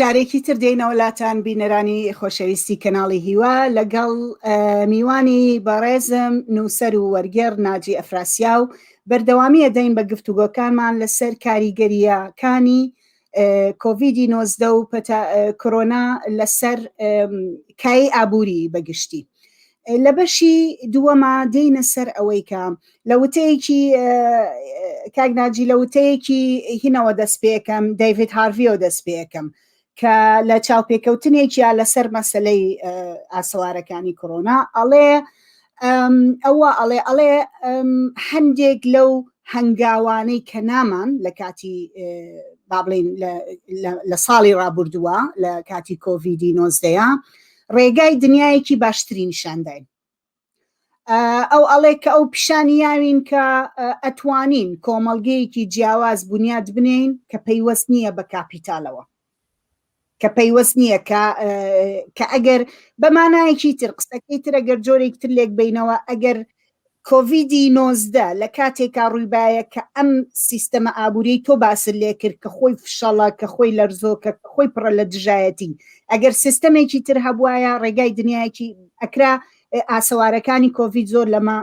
جارێکی تر دێینەوە لاتان بینەرانی خۆشەویستی کەناڵی هیوا لەگەڵ میوانی بەڕێزم نووسەر و وەرگێڕ ناجی ئەفراسیا و بەردەوامیە دەین بە گفتوگۆکانمان لەسەر کاریگەریەکانی کۆڤیدی نۆزدە و کۆرۆنا لەسەر کای ئابووری بەگشتی لە بەشی دووەما دێینە سەر ئەوەی کە لە وتەیەکی کاگناجی لە وتەیەکی هینەوە دەست پێەکەم دەیڤید هارڤیۆ دەست پێەکەم کە لە چاوپێکەوتنێکیا لەسەر مەسلەی ئاسەوارەکانی کۆرۆنا ئەڵێ ئەوە ئەڵێ ئەڵێ هەندێک لەو هەنگاوانەی کە نامان لە کاتی با بڵین لە ساڵی ڕابردووە لە کاتی کۆڤیدی نۆزدەیە ڕێگای دنیایەکی باشتری نیشانداین ئەو ئەڵێ کە ئەو پیشانی یاوین کە ئەتوانین کۆمەڵگەیەکی جیاواز بنیاد بنین کە پەیوەست نییە بە کاپیتالەوە کە پەیوەست نییە کە کە ئەگەر بە مانایەکی تر قسەکەی تر ئەگەر جۆرێک تر لێک بینەوە ئەگەر کۆڤیدی نۆزدە لە کاتێکا ڕوویبایە کە ئەم سیستەمە ئابووری تۆ باسر لێ کرد کە خۆی فشەڵە کە خۆی لەرزۆ کە خۆی پڕە لە دژایەتی ئەگەر سیستەمێکی تر هەبواە ڕێگای دنیایەکی ئەکرا ئاسەوارەکانی کۆڤید زۆر لەمە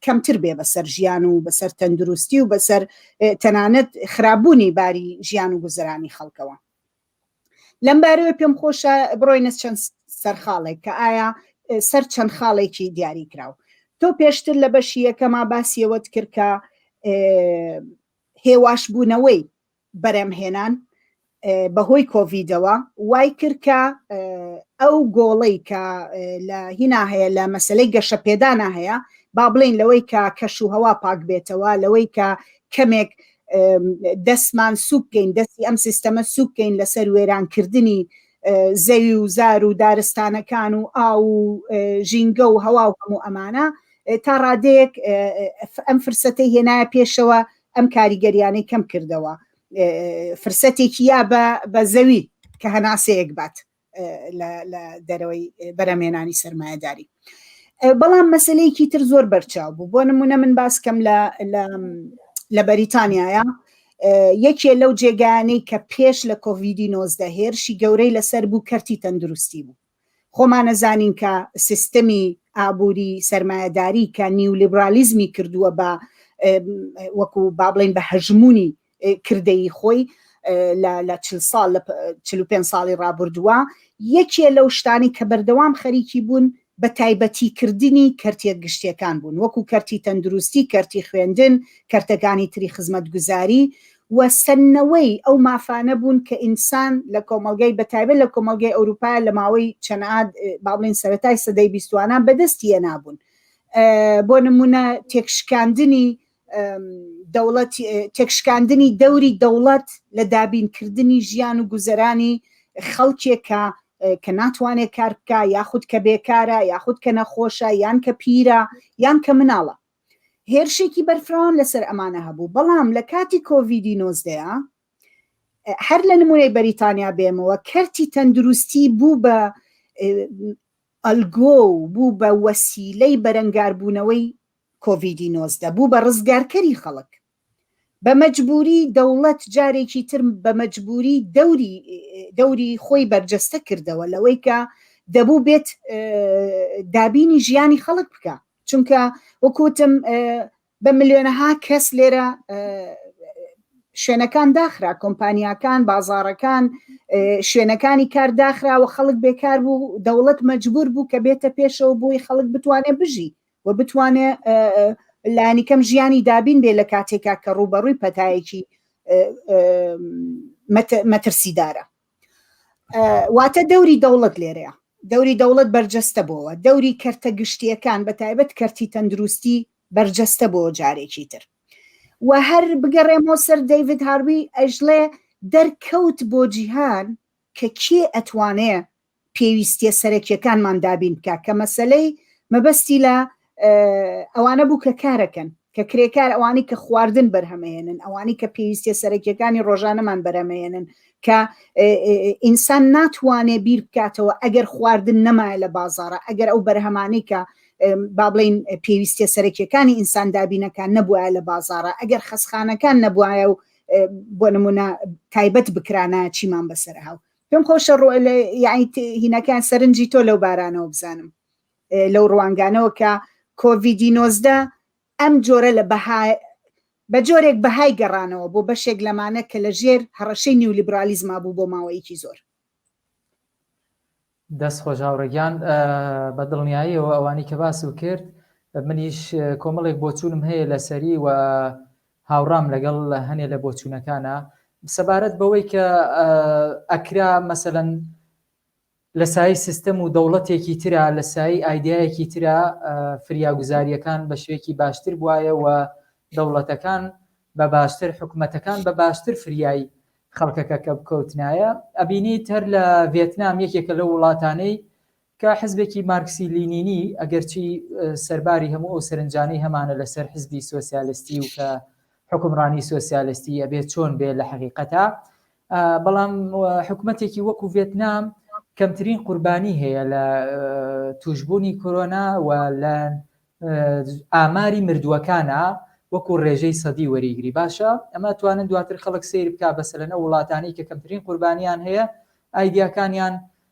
کەمتر بێ بەسەر ژیان و بەسەر تەندروستی و بەسەر تەنانەت خراببوونی باری ژیان و گوزرانی خەڵکەوە لەم بارەوە پێم خۆشە بڕۆینە چەند سەرخاڵێک کە ئایا سەر چەند خاڵێکی دیاری کراوە تۆ پێشتر لە بەشی یەکەما باسیەوەت کرد کە هێواشبوونەوەی بەرهەمهێنان بەهۆی کۆڤیدەوە وای کرد کە ئەو گۆڵەی کە لە هینا هەیە لە مەسلەی گەشەپێدانە هەیە با بڵین لەوەی کە کەش و هەوا پاک بێتەوە لەوەی کە کەمێک دەستمان سوکەین دەستی ئەم سیستەمە سوکەین لەسەر وێرانکردنی زەوی و زار و دارستانەکان و ئا و ژینگە و هەوا و هەموو ئەمانە تا ڕادەیەک ئەم فرسەتی هێنایە پێشەوە ئەم کاریگەریانەی کەم کردەوە فرسەتێکی یا بە زەوی کە هەناسەیەک بات لە دەرەوەی بەرەمێنانی سەرمایەداری بەڵام مەسلەیەکی تر زۆر بەرچاو بوو بۆ نمونە من باس کەم لە بەریتانیایە یەکێ لەو جێگانەی کە پێش لە کۆڤیدی نۆزدە هێرشی گەورەی لەسەر بوو کەرتی تەندروستی بوو خۆمانەزانین کە سیستەمی ئابووری سەرمایەداری کە نیولیبرالیزمی کردووە بە وەکو با بڵین بە هەژمونی کردەی خۆی لە چل ساڵ لە چل و پێنج ساڵی ڕابردووە یەکێ لەو شتانی کە بەردەوام خەریکی بوون بە تایبەتی کردنی کەرتە گشتیەکان بوون وەکو کەرتی تەندروستی کەرتی خوێندن کەرتەکانی تری خزمەتگوزاری و سەندنەوەی ئەو مافانە بوون کە ئینسان لە کۆمەڵگای بە تایبەت لە کۆمەڵگای ئەوروپایا لە ماوەی چەند ئاد با بڵێین سەرەتای سەدەی بیستوانە بە دەستی هێنابوون بۆ نموونە تێکشکاندنی دەوڵەت تێکشکاندنی دەوری دەوڵەت لە دابینکردنی ژیان و گوزەرانی خەڵکێکە کە ناتوانێت کار بکە یاخود کە بێکارە یاخود کە نەخۆشە یان کە پیرە یان کە مناڵە هێرشێکی بەرفراوان لەسەر ئەمانە هەبوو بەڵام لە کاتی کۆڤیدی نۆزدەیا هەر لە نمونەی بەریتانیا بێمەوە کەرتی تەندروستی بوو بە ئەلگۆ و بوو بە وەسیلەی بەرەنگاربوونەوەی کۆڤیدی نۆزدە بوو بە ڕزگارکەری خەڵک بە مەجبووری دەوڵەت جارێکی تر بە مەجبووری دەوری دەوری خۆی بەرجەستە کردەوە لەوەی کە دەبوو بێت دابینی ژیانی خەڵک بکە چونکە وەکوتم بە ملیۆنەها کەس لێرە شوێنەکان داخرا کۆمپانیاکان بازارەکان شوێنەکانی کار داخراوە خەڵک بێکار بوو دەوڵەت مەجبور بوو کە بێتە پێشەوە بووی خەڵک بتوانێت بژی و بتوانێ لانی کەم ژیانی دابین بێ لە کاتێکا کە ڕووبەڕووی پەتایەکی مەترسیدارە واتە دەوری دەوڵەت لێرەیە دەوری دەوڵەت بەرجەستە بۆەوە دەوری کەرتە گشتیەکان بە تایبەت کەرتی تەندروستی بەرجەستە بۆ جارێکی تر و هەر بگەڕێمەوە سەر دەیڤید هاروی ئەژڵێ دەرکەوت بۆ جیهان کە کێ ئەتوانێ پێویستیە سەرەکیەکانمان دابین بکا کە مەسەلەی مەبەستی لە ئەوانە بوو کە کارەکەن کە کرێکار ئەوانی کە خواردن بەرهەمەهێنن ئەوانی کە پێویستیە سەرەکیەکانی ڕۆژانەمان بەرەمەێنن کە ئینسان ناتوانێ بیر بکاتەوە ئەگەر خواردن نەمایە لە بازارە ئەگەر ئەو بەرهەمانی کە با بڵین پێویستە سەرەکیەکانی ئینسان دابینەکان نەبووە لە بازارە ئەگەر خەسخانەکان نەبواە و بۆ نمونە تایبەت بکرانە چیمان بەسەر هاو پێم خۆشە ڕۆ لە یعنی ت- هینەکان سەرنجی تۆ لەو بارانەوە بزانم ئێ، لەو ڕوانگانەوە کە کۆڤیدی نۆزدە ئەم جۆرە لە بەها بە جۆرێک بەهای گەڕانەوە بۆ بەشێک لەمانە کە لە ژێر هەڕەشەی نیولیبرالیزما بوو بۆ ماوەیەکی زۆر دەست خۆش هاوڕێگیان ئە، بە دڵنیاییەوە ئەوانی کە باسم کرد منیش ئە، کۆمەڵێک بۆچوونم هەیە لەسەری و هاوڕام لەگەڵ هەنێ لە بۆچوونەکانا سەبارەت بەوەی کە ئەکرا مەسەلەن لە سای سیستەم و دەوڵەتێکی ترا لە سای ئایدایەکی ترا فریاگوزاریەکان بە شوێکی باشتر بواە و دەوڵەتەکان بە باشتر حکوومەتەکان بە باشتر فریایی خەڵکەکە کە بکەوتنایە ئەبینی تەر لە ڤێتنام یەکێکە لە وڵاتانەی کە حزبێکی مارکسی لینینی ئەگەرچی سەرباری هەموو ئەو سەرنجانەی هەمانە لەسەر حزبی سۆسیالستی و کە حکمڕانی سۆسیالستی ئەبێ چۆن بێ لە حەقیقەتا بەڵام حکوومەتێکی وەکو ڤێتنام کەمترین قوربانی هەیە لە توشببوونی کۆرۆنا و لە ئاماری مردووەکانە وەکو ڕێژەی سەدی وەریگری باشە ئەمە توانن دواتر خەڵک سیر بک بەسەرەنە وڵاتانی کە کەمترین قوربانیان هەیە ئایدیاکانیان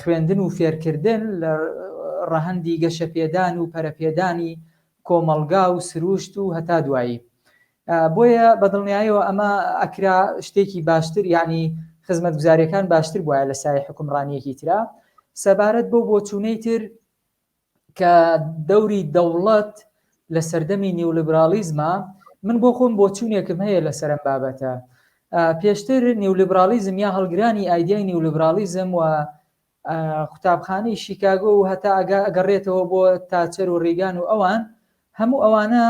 خوێندن و فێرکردن لە ڕەهەندی گەشەپێدان و پەرەپێدانی کۆمەڵگا و سرووشت و هەتا دوایی. بۆیە بە دڵنیایەوە ئەمە ئەکرا شتێکی باشتر یانی خزمەتگوزاریەکان باشتر بوایە لە سایەی حوکمڕانیەکی ترا. سەبارەت بەو بۆچوونەی تر کە دەوری دەوڵەت لە سەردەمی نیولیبرالیزمە من بۆ خۆم بۆچوونێکم هەیە لەسەر ئەم بابەتە پێشتر نیولیبرالیزم یا هەڵگرانی ئایدیای نیولیبرالیزم و قوتابخانەی شیکاگۆ و هەتا ئەگا ئەگەڕێتەوە بۆ تاچەر و ڕیگان و ئەوان هەموو ئەوانە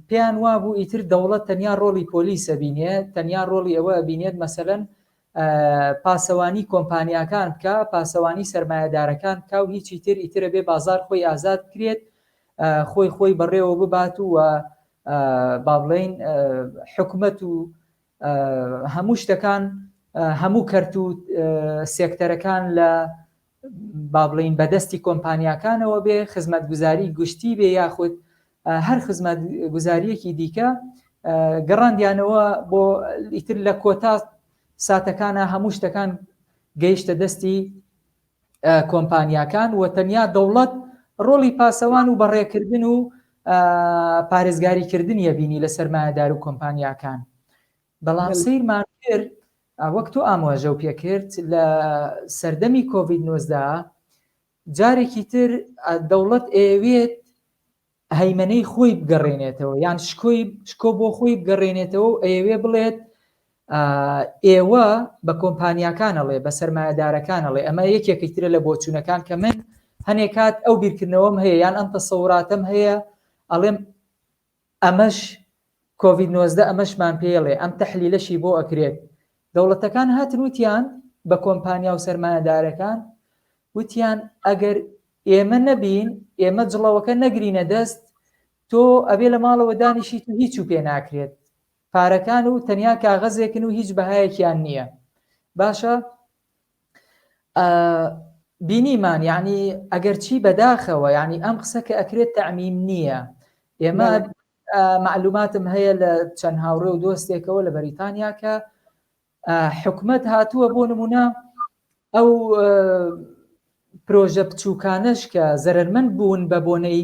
پێیان وابوو ئیتر دەوڵەت تەنیا ڕۆڵی پۆلیسە بینێت تەنیا ڕۆڵی ئەوە بینێت مەسەن پاسەوانی کۆمپانیاکان بکا پاسەوانی سەرمایەدارەکان بکا و هیچی تر ئیتر ئەبێ بازار خۆی ئازاد بکرێت خۆی خۆی بەڕێوە ببات و بابڵین حکومەت و هەموو شتەکان هەموو کەرت و سێکتەرەکان لە با بڵێین بە دەستی کۆمپانیاکانەوە بێ، خزمەتگوزاری گشتی بێ یاخود هەر خزمەتگوزارییەکی دیکە، گەڕاندیانەوە بۆ ئیتر لە کۆتا ساتەکانا هەموو شتەکان گەیشتە دەستی کۆمپانیاکان و تەنیا دەوڵەت ڕۆڵی پاسەوان و بەڕێکردن و پارێزگاریکردنیە بینی لە سەرمایەدار و کۆمپانیاکان بەڵام سەیرمان کرد وەک تۆ ئاماژەو پێ کرد لە سەردەمی کۆڤید نۆزدە جارێکی تر دەوڵەت ئەیەوێت هەیمەنەی خۆی بگەڕێنێتەوە یان شکۆی شکۆ بۆ خۆی بگەڕێنێتەوە و ئەیەوێ بڵێت ئێوە بە کۆمپانیاکانەڵێ بە سەرمایەدارەکانەڵێ ئەمە یەکێکی ترە لە بۆچوونەکان کە من هەنێکات ئەو بیرکردنەوەم هەیە یان ئەم تەسەوراتم هەیە ئەڵێم ئەمەش کۆڤید نۆزدە ئەمەشمان پێیڵێ ئەم تەحلیلەشی بۆ ئەکرێت دەوڵەتەکان هاتن وتیان بە کۆمپانیا و سەرمایەدارەکان وتیان ئەگەر ئێمە نەبین ئێمە جڵەوەکە نەگرینە دەست تۆ ئەبێ لە ماڵەوە دانیشیت و هیچ و پێ ناکرێت پارەکان و تەنیا کاغەزێکن و هیچ بەهایەکیان نییە باشە بینیمان یعنی ئەگەرچی بەداخەوە یعنی ئەم قسە کە ئەکرێت تەعمیم نییە ئێمە معلوماتم هەیە لە چەند هاوڕێ و دۆستێکەوە لە بەریتانیا کە حکومت هاتووە بۆ نمونە ئەو پرۆژە بچووکانش کە زەرمەند بوون بە بۆنەی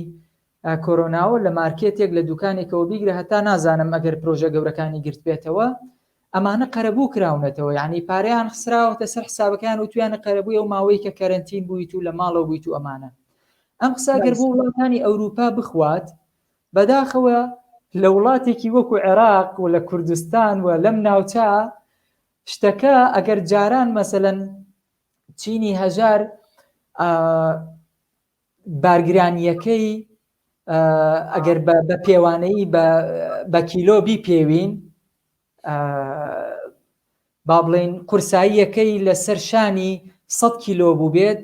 کۆرۆناوە لە مارکێتێک لە دوکانێکەوە بیگرە هەتا نازانم ئەگەر پرۆژە گەورەکانی گرتبێتەوە ئەمانە قەرەبوو کراونەتەوە یانی پارەیان خسراوەتە سەر حسابەکەیان وتویانە قەرەبووی ئەو ماوەی کە کەرەنتین بوویت و لە ماڵەوە بوویت و ئەمانە ئەم قسە گەر بۆ وڵاتانی ئەوروپا بخوات بەداخەوە لە وڵاتێکی وەکو عێراق و لە کوردستان و لەم ناوچە شتەکە ئەگەر جاران مەسەلەن چینی هەژار بارگرانییەکەی ئەگەر بە پێوانەیی بە کیلۆ بیپێوین با بڵین قورساییەکەی لە سەر شانی 100 کیلۆ بوو بێت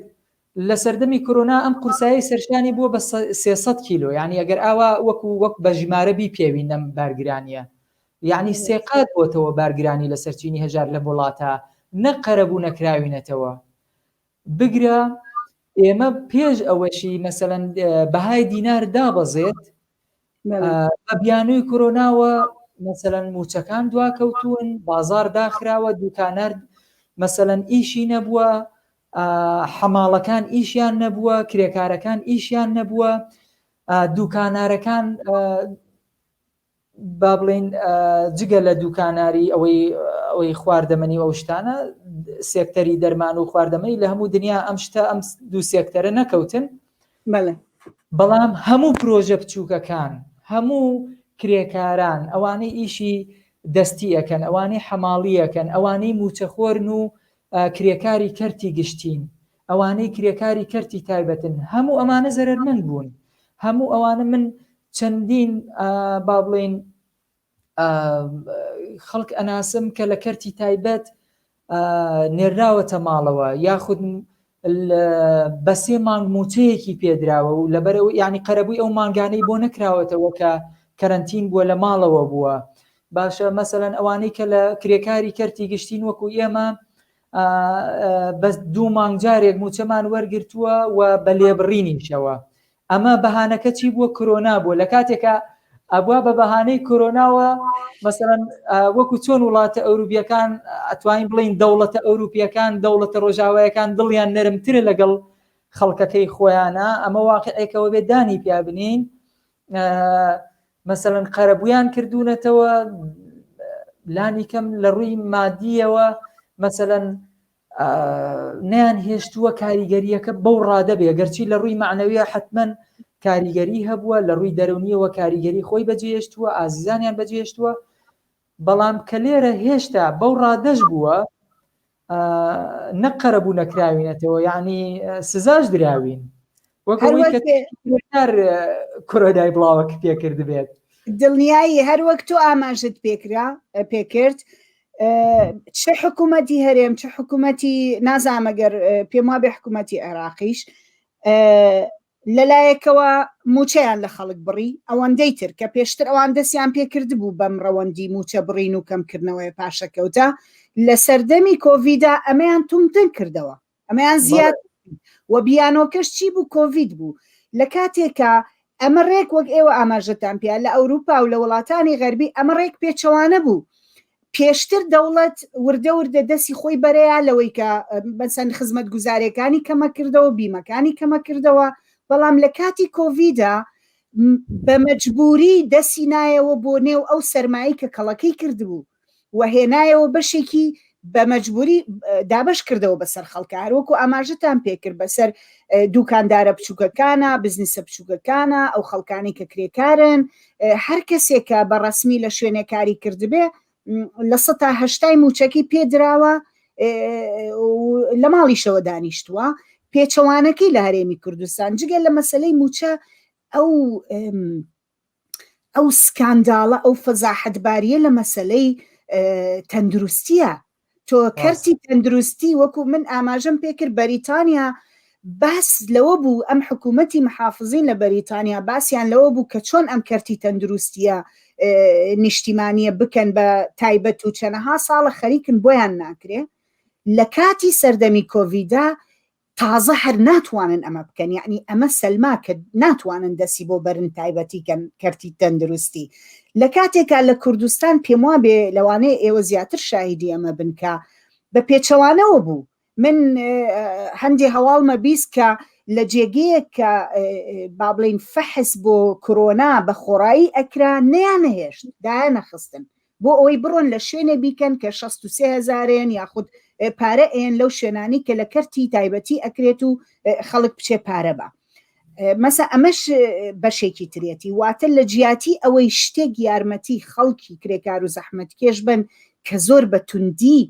لە سەردەمی کۆنا ئەم قورسایی سەرشانی بووە بە 300 کیلۆ یعنی ئەگەر ئاوا وەکو وەک بە ژمارە بیپێوین نەم بارگرانیە یعنی سێقات بۆتەوە بارگرانی لە سەرچینی هەژار لە وڵاتە نەقەرەبوو نەکراوینەتەوە بگرە ئێمە پێش ئەوەشی مەسەلەن بەهای دینار دابەزێت بە بیانووی کۆرۆناوە مەسەلەن موچەکان دواکەوتون بازار داخراوە دوکانەر مەسەلەن ئیشی نەبووە حەماڵەکان ئیشیان نەبووە کرێکارەکان ئیشیان نەبووە دوکانارەکان با بڵێین جگە لە دوکاناری ئەوەی ئەوەی خواردەمەنی و ئەو شتانە سێکتەری دەرمان و خواردەمەنی لە هەموو دنیا ئەم شتە ئەم دوو سێکتەرە نەکەوتن بەڵام هەموو پرۆژە بچووکەکان هەموو کرێکاران ئەوانەی ئیشی دەستی ئەەکەن ئەوانەی حەماڵیەکەن ئەوانەی موچەخۆرن و کرێکاری کەرتی گشتین ئەوانەی کرێکاری کەرتی تایبەتن هەموو ئەمانە زەرەرمەند بوون هەموو ئەوانە من چەندین با بڵین خەڵک ئەناسم کە لە کەرتی تایبەت نێراوەتە ماڵەوە یاخود بە سێ مانگ موچەیەکی پێدراوە و لەبەرەوە ینی قەرەبووی ئەو مانگانەی بۆ نەکراوەتەوە کە کەرنتین بووە لە ماڵەوە بووە باشە مەسەەن ئەوانەی کە لە کرێکاری کەرتی گشتین وەکو ئێمە بەس دوو مانگ جارێک مووچەمان وەرگرتووە و بە لێبڕینیشەوە ئەمە بەهانەکە چی بووە کرۆنا بووە لە کاتێکە ئەبوا بە بەهانەی کرۆناوە مەسەرەن وەکو چۆن وڵاتە ئەوروپیەکان ئەتوانین بڵین دەوڵەتە ئەوروپیەکان دەوڵەتە ڕۆژاوایەکان دڵیان نەرمترە لەگەڵ خەڵکەکەی خۆیانە ئەمە واقعێکەوە بێ دانی پیابنین مەسەلەن قەرەبوویان کردوونەتەوە لانی کەم لە ڕووی مادیەوە مەسەلەن نیان هێشتووە کاریگەریەکە بەو ڕادەبێ گەرچی لە ڕووی معنەویە حتمما کاریگەری هەبووە لە ڕووی دەرونیەوە کاریگەری خۆی بەجێشتووە ئازیزانیان بەجێشتووە بەڵام کە لێرە هێشتا بەو ڕادەش بووە نەک قەرەبوو نەکراوینەتەوە یعنی سزاش دراوین وەکار کۆرۆدای بڵاوەک پێکرد بێت دڵنیایی هەر وەک تۆ ئاماژت پێکرا پێکرد چ حکوومەتی هەرێم چ حکوومەتی نازامەگەر پێم وا بێ حکوومەتی عێراقیش لەلایەکەوە مووچەیان لە خەڵک بڕی، ئەوەندەی تر کە پێشتر ئەوان دەستیان پێ کردبوو بەم ڕەوەندی مووچە بڕین و کەمکردنەوەیە پاشەکەوتە لە سەردەمی کۆڤیدا ئەمەیان توندتر کردەوە ئەمەیان زیاتر کرد و بیانۆکەش چی بوو کۆڤید بوو لە کاتێکا ئەمە ڕێک وەک ئێوە ئاماژەتان پێیە لە ئەوروپا و لە وڵاتانی غەربی ئەمە ڕێک پێچەوانە بوو پێشتر دەوڵەت وردە وردە دەستی خۆی بەرەیە لەوەی کە بەسەن خزمەت گوزارەکانی کەمە کردەوە بیمەکانی کەمە کردەوە بەڵام لە کاتی کۆڤیدا بە مەجبوری دەسی نایەوە بۆ نێو ئەو سەرمایی کە کەڵەکەی کردبوو و هێنایەوە بەشێکی بە مەجبوری دابش کردەوە بەسەر خەڵکە هەروەکو ئاماژتان پێکرد بەسەر دوکاندارە بچووکەکانە بزنسە بچووکەکانە ئەو خەڵکانی کە کرێکارن هەر کەسێک کە بە ڕەسمی لە شوێنێ کاری کردبێ لە سە تا هەشتای موچەکەی پێدراوە لە ماڵیشەوە دانیشتووە پێچەوانەکەی لە هەرێمی کوردستان جگە لە مەسلەی موچە ئەو ئەو سکانداڵە ئەو فەزاحەتباریە لە مەسلەی تەندروستیە تۆ کەرتی تەندروستی وەکو من ئاماژەم پێکرد بەریتانیا باس لەوە بوو ئەم حکوومەتی محافزین لە بەریتانیا باسییان لەوە بوو کە چۆن ئەم کەرتی تەندروستیە نیشتیمانیە بکەن بە تایبەت و چەنەها ساڵە خەریکن بۆیان ناکرێ لە کاتی سەردەمی کۆڤیدا تازە هەر ناتوانن ئەمە بکەن یعنی ئەمە سەلما کە ناتوانن دەسی بۆ بەرن تایبەتی کەن کەرتی تەندروستی لە کاتێکا لە کوردستان پێم وا بێ لەوانەیە ئێوە زیاتر شاهیدی ئەمە بنکە بە پێچەوانەوە بوو من هەندێ هەواڵمە بیست کە لە جێگەیەک کە با بڵین فەحس بۆ کۆرۆنا بە خۆڕایی ئەکرا نیان نەهێشت دایان نەخستن بۆ ئەوەی بڕۆن لە شوێنێ بیکەن کە شەست و سێ هەزارێن یاخود پارە ێەن لەو شوێنانی کە لە کەرتی تایبەتی ئەکرێت و خەڵک بچێ پارە بە مەسە ئەمەش بەشێکی ترێتی واتە لە جیاتی ئەوەی شتێک یارمەتی خەڵکی کرێکار و زەحمت کێش بن کە زۆر بە توندی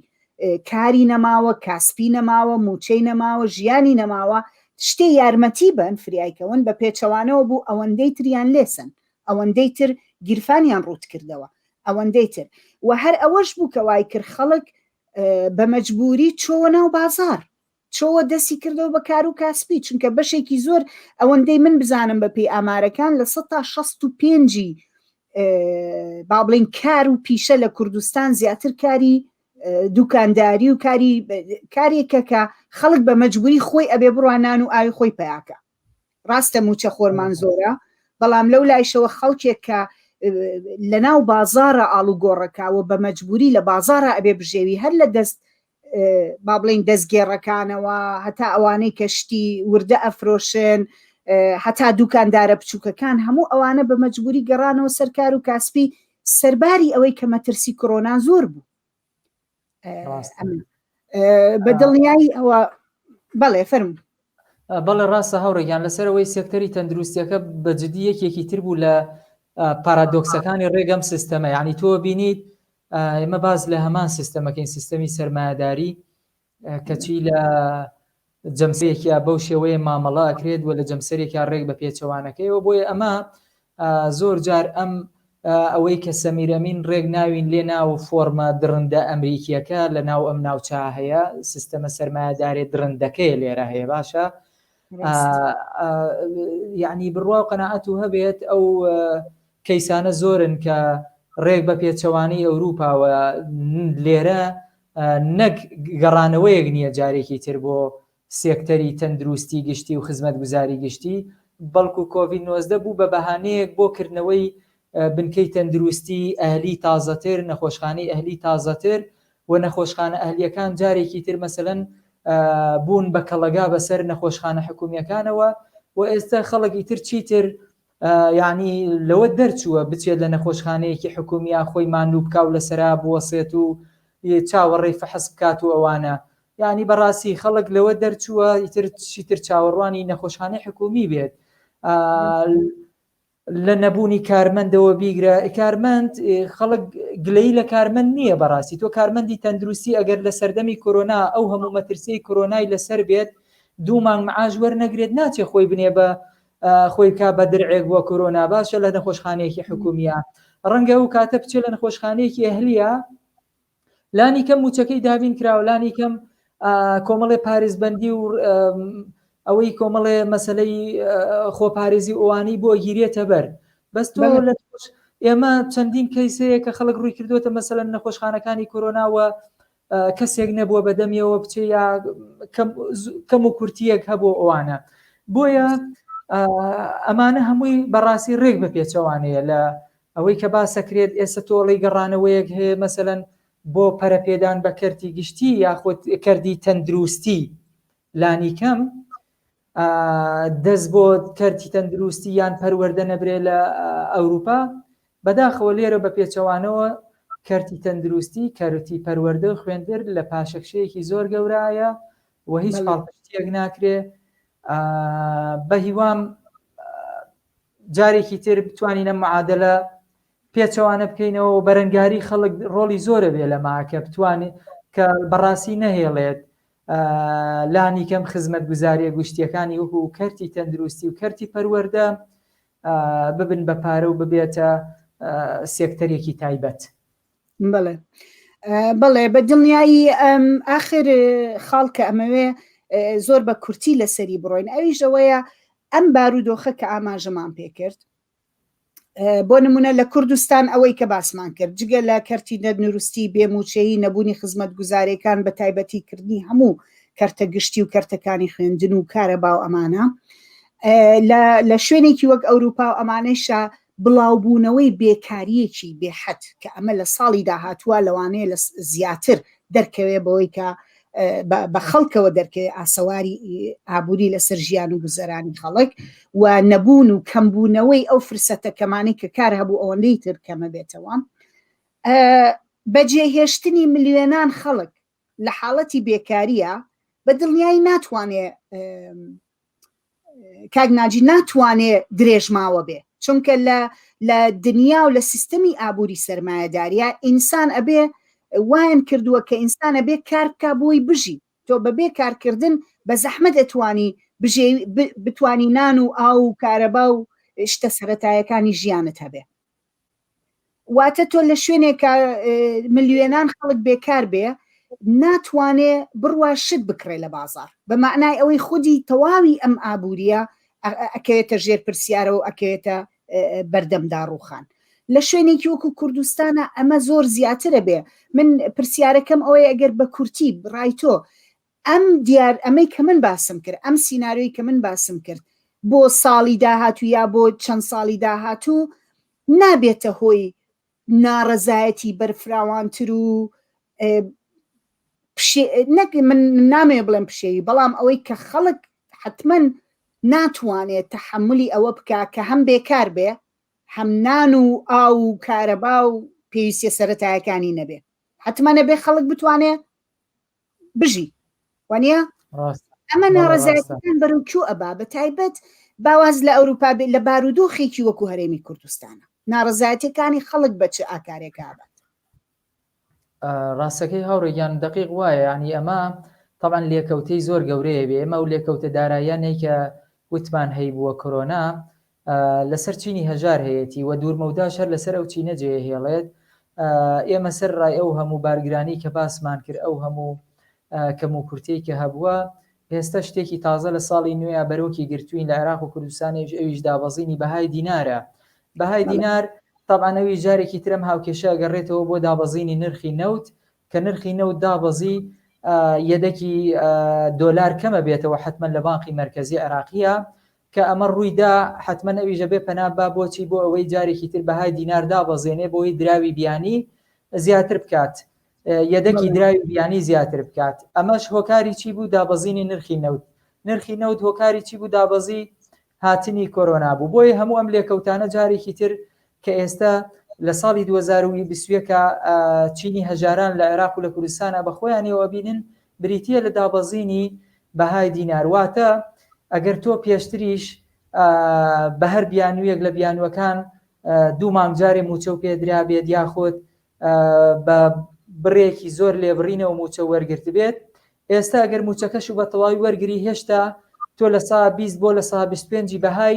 کاری نەماوە کاسپی نەماوە موچەی نەماوە ژیانی نەماوە شتێ یارمەتی بن فریایکەون بە پێچەوانەوە بوو ئەوەندەی تریان لێسن ئەوەندەی تر گیرفانیان ڕووت کردەوە ئەوەندەی تر و هەر ئەوەش بوو کە وای کرد خەڵک بە مەجبووری چۆوە ناو بازاڕ چۆوە دەستی کردەوە بە کار و کاسپی چونکە بەشێکی زۆر ئەوەندەی من بزانم بە پێی ئامارەکان لە سە تا شەست و پێنجی با بڵین کار و پیشە لە کوردستان زیاتر کاری دوکانداری و کاری کارێکە کە خەڵک بە مەجبوری خۆی ئەبێ بڕوانان و ئاوی خۆی پیاکە ڕاستە مووچەخۆرمان زۆرە، بەڵام لەو لایشەوە خەڵکێک کە لە ناو بازاڕە ئاڵوگۆڕەکە و بە مەجبووری لە بازاڕا ئەبێ بژێوی هەر لە دەست با بڵێین دەستگێڕەکانەوە هەتا ئەوانەی کە شتی وردە ئەفرۆشن هەتا دووکاندارە بچووکەکان هەموو ئەوانە بە مەجبووری گەڕانەوە سەر کار و کاسپی سەرباری ئەوەی کە مەترسی کۆرۆنا زۆر بوو بە دڵنیایی ئەوە بەڵێ فەرم بەڵێ ڕاستە هەوڕێکیان لەسەرەوەی سێکتەری تەندروستیەکە بە جددی یەکێکی تر بوو لە پارادۆکسەکانی ڕێگەم سیستەمە یعنی تۆ بینیت ئێمە باز لە هەمان سیستەمەکەین سیستەمی سەرمایهداری کەچی لە جەمسەرێکیا بەو شێوەیە مامەڵە ئەکرێت و لە جەمسەرێکیا ڕێک بە پێچەوانەکەیەوە بۆیە ئەمە زۆر جار ئەم ئەوەی کە سەمیرەمین ڕێک ناوین لێ ناو فۆرمە دڕندە ئەمریکیەکە لە ناو ئەم ناوچە هەیە سیستەمە سەرمایەدارێ دڕندەکەی لێرە هەیە باشە یعنی بڕوا و قەنەعەت و هەبێت ئەو کەیسانە زۆرن کە ڕێک بە پێچەوانەی ئەوروپاوە لێرە نەک گەڕانەوەیەک نییە جارێکی تر بۆ سێکتەری تەندروستی گشتی و خزمەتگوزاری گشتی، بەڵکو کۆڤید نۆزدە بوو بە بەهانەیەک بۆ کردنەوەی بنکەی تەندروستی ئەهلی تازەتر، نەخۆشخانەی ئەهلی تازەتر و نەخۆشخانە ئەهلییەکان جارێکی تر مەسەلەن بوون بە کەڵەگا بەسەر نەخۆشخانە حکومییەکانەوە و ئێستا خەڵک ئیتر چیتر یانی لەوە دەرچووە بچێت لە نەخۆشخانەیەکی حکومیا خۆی ماندوو بکا و لەسەرا بوەسێت و چاوەڕێی فەحس بکات و ئەوانە یانی بەڕاستی خەڵک لەوە دەرچووە ئیتر چیتر چاوەڕوانی نەخۆشخانەی حکومی بێت لە نەبوونی کارمەندەوە بیگرە کارمەند خەڵک گلەی لە کارمەند نییە بەڕاستی تۆ کارمەندی تەندروستی ئەگەر لە سەردەمی کۆرۆنا ئەو هەموو مەترسی کۆرۆنای لەسەر بێت دوو مانگ معاش وەرنەگرێت ناچێ خۆی بنێ بە خۆی بکا بە درعێک بۆ کۆرۆنا باشە لە نەخۆشخانەیەکی حکومیە ڕەنگە ئەو کاتە بچێت لە نەخۆشخانەیەکی ئەهلیە لانی کەم موچەکەی دابین کراوە لانی کەم کۆمەڵێ پارێزبەندی و ئەوەی کۆمەڵێ مەسلەی خۆپارێزی ئەوانی بۆ گیرێتە بەر بەس تۆ لە ئێمە چەندین کەیسەیە کە خەڵک ڕووی کردوێتە مەسەن نەخۆشخانەکانی کۆرۆناوە کەسێک نەبووە بە دەمیەوە بچێ یا کەم و کورتیەک هەبوو ئەوانە بۆیە ئەمانە هەمووی بەڕاستی ڕێک بە پێچەوانەیە لە ئەوەی کە باسەکرێت ئێستا تۆڵی گەڕانەوەیەک هەیە مەسەەن بۆ پەرەپێدان بە کەرتی گشتی یاخود کردی تەندروستی لانیکەم دەست بۆ کەرتی تەندروستی یان پەروەەردە نەبرێ لە ئەوروپا بەداخەوە لێرە بە پێچەوانەوە کەرتی تەندروستی کەرتی پەروەەردە و خوێندر لە پاشەکشەیەکی زۆر گەورایە و هیچ پاڵپشتیەک ناکرێ بە هیوام جارێکی تر بتوانینە معادلە پێچەوانە بکەینەوە و بەرەنگاری خەڵک ڕۆڵی زۆرە بێ لە ماکە بتوانێت کە بەڕاستی نەهێڵێت لانیکەم خزمەتگوزارییە گشتییەکانی وەکو کەرتی تەندروستی و کەرتی پەروەردە ببن بە پارە و ببێتە سێکتەرێکی تایبەت. بەڵێ بەڵێ بە دڵنیایی ئەم ئاخر خاڵکە ئەمەوێ زۆر بە کورتی لەسەری بڕۆین ئەویش ئەوەیە ئەم بارودۆخە کە ئاماژەمان پێکرد بۆ نمونە لە کوردستان ئەوەی کە باسمان کرد جگە لە کەرتی نەدنروستی بێموچەیی نەبوونی خزمەت گوزارەکان بە تایبەتی کردنی هەموو کەرتە گشتی و کەرتەکانی خوێندن و کارە باو ئەمانە لە شوێنێکی وەک ئەوروپا و ئەمانەشە بڵاوبوونەوەی بێکاریەکی بێحەت کە ئەمە لە ساڵی داهاتووە لەوانەیە لە زیاتر دەرکەوێ بەوەی کە بە خەڵکەوە دەرکەوێت ئاسەواری ئابووری لەسەر ژیان و گوزەرانی خەڵک و نەبوون و کەمبوونەوەی ئەو فرسەتە کەمانەی کە کار هەبوو ئەوەندەی تر کەمە بێتەوە بەجێهێشتنی ملیێنان خەڵک لە حاڵەتی بێکاریە بە دڵنیایی ناتوانێ کاک ناجی ناتوانێ درێژماوە بێ چونکە لە لە دنیا و لە سیستەمی ئابووری سرمایهداریە ئینسان ئەبێ وایان کردووە کە ئینسانە بێ کارکە بۆی بژی تۆ بەبێ کارکردن بە زەحمت ئەتوانی بژێ بتانی نان و ئاو و کارەبا و شتە سەتایەکانی ژیانت هەبێ واتە تۆ لە شوێنێکە ملیێنان خەڵک بێکار بێ ناتوانێ بڕوا شت بکڕێ لە بازار بە معنای ئەوەی خودی تەواوی ئەم ئابووریە ئەکەوێتە ژێر پرسیارەوە ئەکەوێتە بەردەم داڕوخان لە شوێنێکی وەکو کوردستانە ئەمە زۆر زیاترە بێ من پرسیارەکەم ئەوەی ئەگەر بە کورتی ڕای تۆ ئەم دیار ئەمەی کە من باسم کرد ئەم سیناریۆی کە من باسم کرد بۆ ساڵی داهاتوو یا بۆ چەند ساڵی داهاتوو نابێتە هۆی ناڕەزایەتی بەرفراوانتر و نەک من نامێ بڵێم پشێوی بەڵام ئەوەی کە خەڵک حتمما ناتوانێت تحملی ئەوە بکە کە هەم بێکار بێ هەم نان و ئاو و کارەبا و پێویستە سەتایەکانی نەبێ حتممە نەبێ خەڵک بتوانێت بژی وانە ئەمە ناڕزایەتەکان بەرەو کیو ئەبا بە تایبەت باواز لە ئەوروپا بێت لە بارودۆخێکی وەکو هەرێمی کوردستانە ناڕزایەتەکانی خەڵک بە چ ئاکارێکا بات ڕاستەکەی هاوڕێگیان دقیق وایە ینی ئەمە تاوان لێکەوتەی زۆر گەورەیە بێ ئمە و لێکەوتە داراییانەی کە وتمان هەیبووە کۆرۆنا لەسەر چینی هەژار هەیەتی و دوورمەوداش هەر لەسەر ئەو چینە جێیەهێڵێت. ئێمە سەر ڕای ئەو هەموو بارگرانی کە باسمان کرد، ئەو هەموو کەموکورتیەی کە هەبووە، ئێستا شتێکی تازە لە ساڵی نوێیا بەرۆکی گرتووین لە عێراق و کوردستانیش، ئەویش دابەزینی بەهای دینارە. بەهای دینار تەبعەن ئەویش جارێکی تر ئەم هاوکێشە ئەگەڕێتەوە بۆ دابەزینی نرخی نەوت، کە نرخی نەوت دابەزی، یەدەکی دۆلار کەمەبێتەوە حەتمەن لە بانقی مەرکەزی عێراقییە کە ئەمە ڕووی دا، حەتمەن ئەویش ئەبێ پەنا ببا بۆ چی؟ بۆ ئەوەی جارێکی تر بەهای دینار دابەزێنێ بۆی دراوی بیانی زیاتر بکات، یەدەکی دراوی بیانی زیاتر بکات. ئەمەش هۆکاری چی بوو؟ دابەزینی نرخی نەوت. نرخی نەوت هۆکاری چی بوو؟ دابەزی هاتنی کۆرۆنا بوو. بۆیە هەموو ئەم لێکەوتانە جارێکی تر کە ئێستا لە ساڵی دوو هەزار و بیست و یەک چینی هەژاران لە عێراق و لە کوردستانا بە خۆیانەوە ئەبینن، بریتییە لە دابەزینی بەهای دینار. واتە ئەگەر تۆ پێشتریش بە هەر بیانوویەک لە بیانووەکان دوو مانگ جارێ مووچەو پێ درابێت یاخود بە بڕێکی زۆر لێبڕینەوە مووچە وەرگرتبێت، ئێستا گەر مووچەکەشو بە تەواوی وەرگری هێشتا تۆ لە سا بیست بۆ لە سا بیست و پێنجی بەهای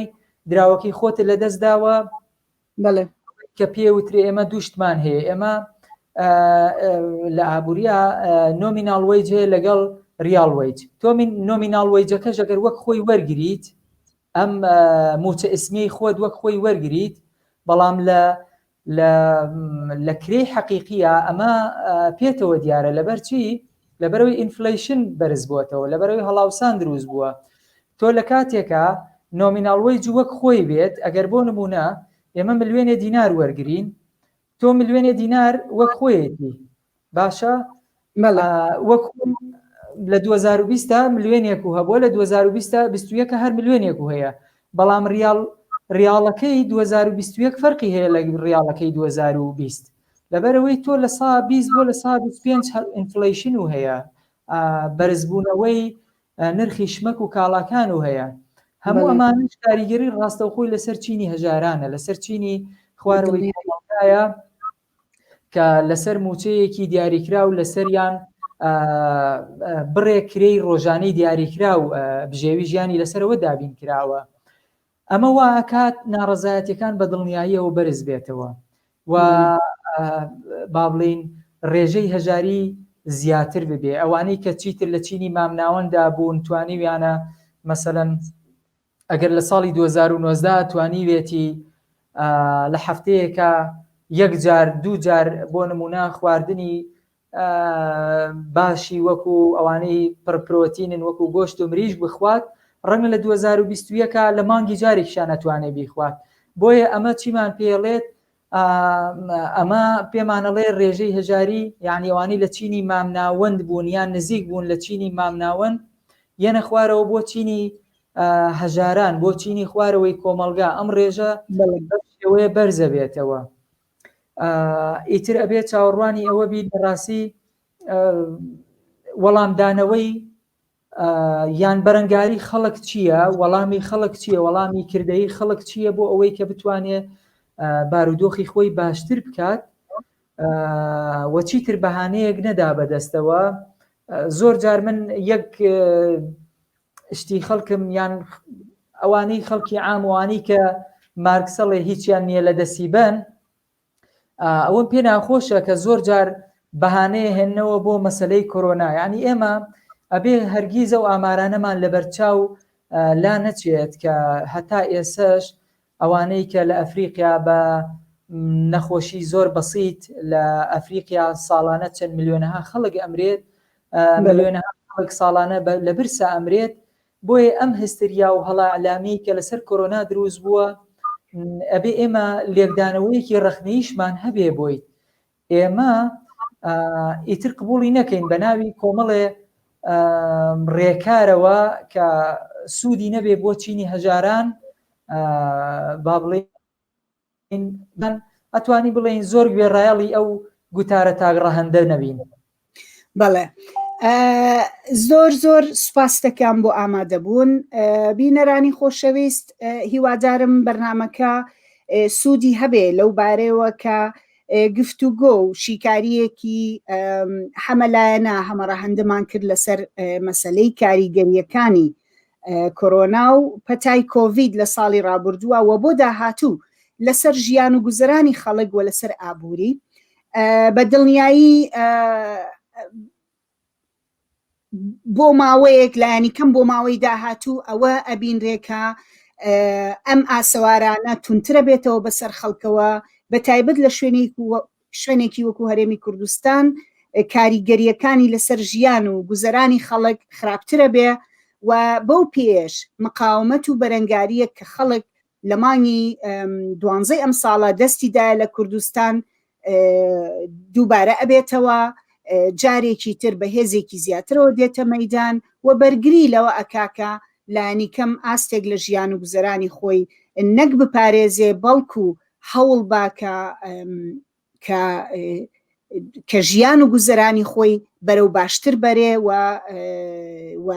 دراوەکەی خۆتت لە دەست داوە، بەڵێ. کە پێ وترێ ئێمە دوو شتمان هەیە، ئێمە لە ئابووریا نۆمیناڵ وەیج هەیە لەگەڵ ڕیاڵ وەیج، تۆ نۆمیناڵ وەیجەکەش گەر وەک خۆی وەرگریت ئەم مووچە ئیسمیەی خۆت وەک خۆی وەرگریت، بەڵام لە لە لە کرێی حەقیقییە ئەمە پێتەوە دیارە لەبەرچی لەبەرەوەی ئینفلیشن بەرز بووەتەوە لەبەرەوەی هەڵاوسان دروست بووە تۆ لە کاتێکە نۆمیناڵوەی جووەک خۆی بێت ئەگەر بۆ نمونە ئێمە ملوێنێ دینار وەرگین تۆ ملوێنێ دینار وەک خۆیەتی باشە مەلا وەک لە 2020 دا ملیۆنێک و هەبووە لە 2020 دا 21 هەر ملیۆنێک و هەیە بەڵام ریاڵ ریاڵەکەی 2021 فەرقی هەیە لە ریاڵەکەی 2020 لەبەرەوەی تۆ لە سا 20 بۆ لە سا 25 ئینفلیشن و هەیە بەرزبوونەوەی نرخی شمەک و کاڵاکان و هەیە هەموو ئەمانش کاریگەری ڕاستەوخۆی لەسەر چینی هەژارانە لەسەر چینی خوارەوەی کە لەسەر مووچەیەکی دیاریکراو لەسەریان بڕێ کرێی ڕۆژانەی دیاریکراو بژێوی ژیانی لەسەرەوە دابین کراوە ئەمە واکات ناڕزایەتەکان بە دڵنیاییەوە بەرز بێتەوە و با بڵین ڕێژەی هەژاری زیاتر ببێ ئەوانەی کە چیتر لە چینی مامناوەندا بوون توانیویانە مەسەەن ئەگەر لە ساڵی دوو هەزار و نۆزدە توانیوێتی لە هەفتەیەکا یەک جار دوو جار بۆ نموونە خواردنی باشی وەکو ئەوانەی پڕ پرۆتینن وەکو گۆشت و مریشک بخوات ڕەنگە لە دوو هەزار و بیست و یەکا لە مانگی جارێکیشیان ئەتوانێ بیخوات بۆیە ئەمە چیمان پێ ئەڵێت ئەمە پێمان ئەڵێ ڕێژەی هەژاری یان ئەوانەی لە چینی مامناوەند بوون یان نزیک بوون لە چینی مامناوەند یەنە خوارەوە بۆ چینی هەژاران بۆ چینی خوارەوەی کۆمەلگا ئەم ڕێژە شێوەیە بەرزە بێتەوە ئیتر ئەبێت چاوەڕوانی ئەوە بی لە ڕاستی وەڵامدانەوەی یان بەرەنگاری خەڵک چییە وەڵامی خەڵک چییە وەڵامی کردەی خەڵک چییە بۆ ئەوەی کە بتوانێ بارودۆخی خۆی باشتر بکات وەچی تر بەهانەیەک نەدا بەدەستەوە زۆر جار من یەک شتی خەڵکم یان ئەوانەی خەڵکی ئاموانی کە مارکسەڵێ هیچیان نییە لە دەسیبەن ئەوەم پێ ناخۆشە کە زۆر جار بەهانەیە هێننەوە بۆ مەسلەی کۆرۆنا یعنی ئێمە ئەبێ هەرگیز ئەو ئامارانەمان لەبەرچاو لا نەچێت کە هەتا ئێسش ئەوانەی کە لە ئەفریقیا بە نەخۆشی زۆر بەسییت لە ئەفریقیا ساڵانە چەند ملیۆنەها خەڵک ئەمرێت ملیۆنەها خەڵک ساڵانە لە برسا ئەمرێت بۆیە ئەم هستریا و هەڵە ئیعلامیەی کە لەسەر کۆرۆنا دروست بووە ئەبێ ئێمە لێکدانەوەیەکی ڕەخنەییشمان هەبێ بۆی. ئێمە ئیتر قبوڵی نەکەین بە ناوی کۆمەڵێ ڕێکارەوە کە سوودی نەبێ بۆ چینی هەژاران با بڵێ بەن ئەتوانی بڵێین زۆر گوێڕایەڵی ئەو گوتارە تاک ڕەهندە نەبین بەڵێ زۆر زۆر سوپاستەکان بۆ ئامادەبوون بینەرانی خۆشەویست هیوادارم بەرنمەکە سوودی هەبێ لەو بارەوە کە گفتوگۆ و شیکاریەکی حەمەلایەنە هەمەڕەهندمان کرد لەسەر مەسلەی کاریگەریەکانی کۆرۆنا و پەتای کۆڤید لە ساڵی ڕابوردووە و بۆ داهاتوو لەسەر ژیان و گوزەرانی خەڵک و لەسەر ئابووری بە دڵنیایی بۆ ماوەیەک لایەنی کەم بۆ ماوەی داهاتوو ئەوە ئەبینرێکە ئەم ئاسەوارانە تونترە بێتەوە بەسەر خەڵکەوە بە تایبەت لە شوێنی شوێنێکی وەکو هەرێمی کوردستان کاریگەرییەکانی لەسەر ژیان و گوزەرانی خەڵک خراپترە بێ و بەو پێیەش مقاومەت و بەرەنگارییەک کە خەڵک لە مانگی دوانزەی ئەم ساڵە دەستی دایە لە کوردستان دووبارە ئەبێتەوە جارێکی تر بە هێزێکی زیاترەوە دێتە مەدان و بەرگری لەوە ئەکاکە لانی کەم ئاستێک لە ژیان و گوزەرانی خۆی نەک بپارێزێ بەڵکو هەوڵ با کە کە کە ژیان و گوزەرانی خۆی بەرەو باشتر بەرێ و و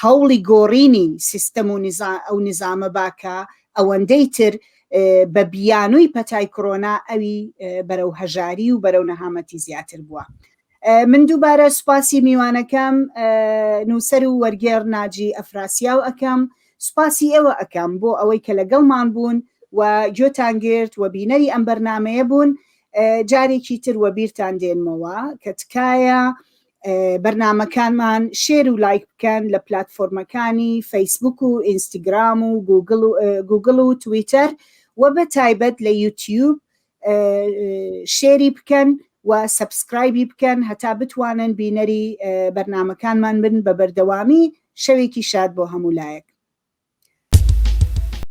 هەوڵی گۆڕینی سیستەم و ئەو نظامە با کە ئەوەندەی تر بە بیانووی پەتای کۆرۆنا ئەوی بەرەو هەژاری و بەرەو نەهامەتی زیاتر بووە من دووبارە سوپاسی میوانەکەم نووسەر و وەرگێڕ ناجی ئەفراسیاو ئەەکەم سوپاسی ئێوە ئەەکەم بۆ ئەوەی کە لەگەڵمان بوون و گوێتان گرت و بینەری ئەم بەرنمەیە بوون جارێکی تر وە بیرتان دێنمەوە کە تکایە بەرنمەکانمان شێر و لایک بکەن لە پلتفۆرمەکانی فەیسبوک و ئینستیگرام و گوگل و تویتەر و بە تایبەت لە یوتیوب شێری بکەن و سەبسکرایبی بکەن هەتا بتوانن بینەری بەرنمەکانمان بن بە بەردەوامی شەوێکی شاد بۆ هەموو لایەک.